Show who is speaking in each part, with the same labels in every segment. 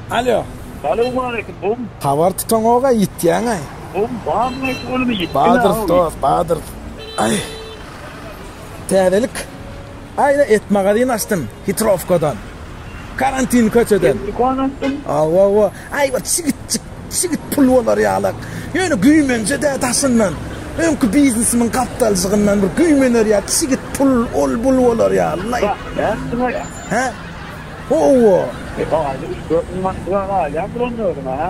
Speaker 1: Alýo. Salowmaleýkim bum. Habar tutaňoga ýitýäňaý. Bum badyň aýt olumy ýitdiňä aý. Badyr dos badyr aý. Täzelik aý et magazin açdym hitrowkadan karantin köçeden. Et dukan açdym. Awa awa aý bir çigitjik çigit pul bolar ýalak ýöne güýmenje dä daşyndan öňki biznesimiň gapdaljygyndan bir güýmener ýa çigit pul ol bul bolar ýaly aý. Bäh nätdiňaý. Hä. Ho-o-o! Ýa, aýda üç-dört müň mandyga-a alýandyr onda özüň-ä?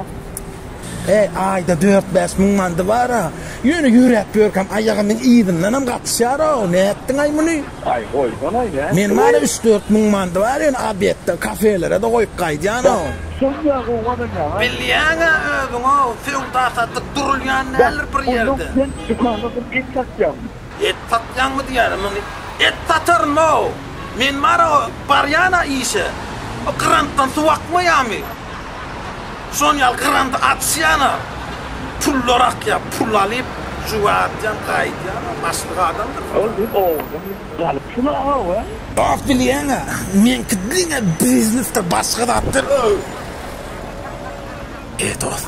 Speaker 1: He, aýda dört-bäş müň mandy bar-a. Ýöne ýöräp ýörkäm aýagymyň yzyndanam gatyşýar-ow. Nätdiň-aý muny? Aý, goýsana-aý, nätdi? Meniň bar-a üç-dört müň mandy bar, ýöne obed-de, kafelere-de goýup gaýdýan-ow. Şony-a gowy gazanýaň-a? Bilýäň-ä özüň-ow, söwda-satyk durulýan däldir bir ýerde. Bäh, onda sen dükanda bir et satýaňmy? Et satýaňmy diýýäne muny et sataryn-ow. Men bara barýan-a işe. O grantdan suw akmaýamy? Şon ýaly granty açýan-a. Pullar akýa, pul alyp juwardýan gaýdýan-a başlyk adamdyr. Ol diýip owadan galyp şuna-ow. Bap bilýäň-ä, meňki diňe biznesdir başga zatdyr-ow. E dost.